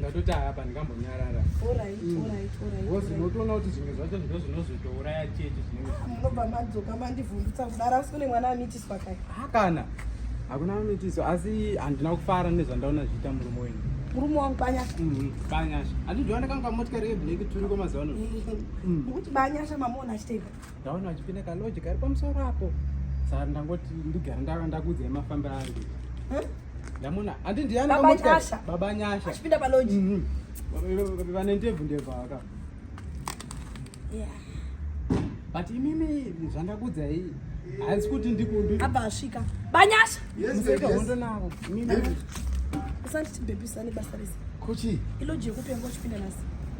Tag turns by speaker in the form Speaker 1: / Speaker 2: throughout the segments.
Speaker 1: ndatoti
Speaker 2: apa ndikambonyarara
Speaker 1: bcoz unotoona kuti
Speaker 2: zvimwe zvacho ndo zvinozotouraya chechi zvinobva madzoka
Speaker 1: mandivhundutsa kudara asi kune mwana amitiswa kai hakana
Speaker 2: hakuna amitiswa asi handina kufara nezvandaona zviita murume wenyu murume wangu banyasha
Speaker 1: mm-hmm. banyasha
Speaker 2: handidioona kanga motikari yeblack turiko mazuva ano mukuti mm.
Speaker 1: banyasha mamuona achitei ndaona achipinda
Speaker 2: kaloji kari pamusoro apo saka ndangoti ndigara ndava ndakuudzai mafambiro ari ndamona handi ndiyanababanyasha baba nyasha achipinda paloji
Speaker 1: mhm. vane
Speaker 2: ndebvu ndebvu aka but imimi zvandakuudzai hanzi kuti ndikuabva asvika
Speaker 1: banyasha museka hondo
Speaker 2: navo imimi
Speaker 1: usanditibhebhisane basa rese kuchi iloji
Speaker 3: yekupengwa
Speaker 1: uchipinda nasi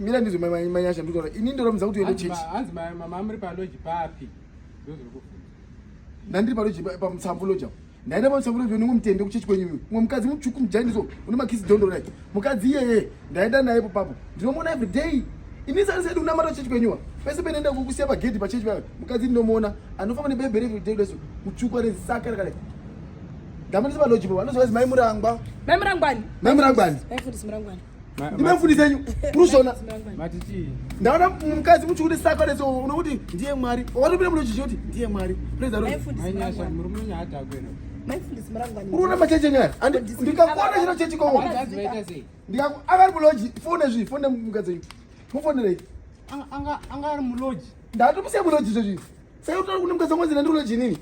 Speaker 1: mira ndizvo
Speaker 3: manyasha ndikutaura ini ndoramidza kuti uende chechi hanzi mama amuri
Speaker 2: paloji papi ndandiri
Speaker 3: paloji pamutsamvu loji apo ndaenda pamutsamvu loji unenge mutende kuchechi kwenyu imwe umwe mukadzi mutsvuku mujainiso une makisi dondo rai mukadzi iyeye ndaenda naye po papo ndinomuona every day ini sari saidi unamata chechi kwenyuwa pese penoenda kukusiya pagedhi pachechi payo mukadzi ndinomuona anofamba nebebhere every day leso mutsvuku ane saka rakadai ndamanisa paloji po anozovaizi maimurangwa
Speaker 1: maimurangwani
Speaker 3: maimurangwani
Speaker 1: ndimefundisa nyu
Speaker 3: unoshona
Speaker 2: ndaona
Speaker 3: mukadzi muchikuti saka rese unokuti ndiye mwari watopinda muno chichoti ndiye
Speaker 1: mwari urona macheche nyaya
Speaker 3: ndikakuona chino chechi kowo
Speaker 2: akari muloji
Speaker 3: fone zvi fone mukadzi nyu mufonerei
Speaker 2: anga ari muloji ndatomusiya muloji
Speaker 3: zvezvi sai utari kune mukadzi wangu zina ndiuloji inini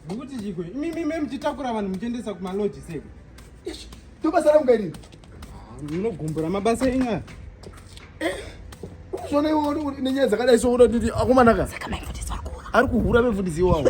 Speaker 2: Ndokuti chikwe. Imi imi mimi titakura vanhu muchiendesa kuma lodge seko. Ish. Tobasa
Speaker 3: rangu kairi. Ah, munogumbura
Speaker 2: mabasa enyu.
Speaker 1: Eh.
Speaker 3: Uzvona iwe nenyaya dzakadai so unodidi akomanaka. Saka mai mfundisi ari kuhura. Ari kuhura mfundisi iwawo.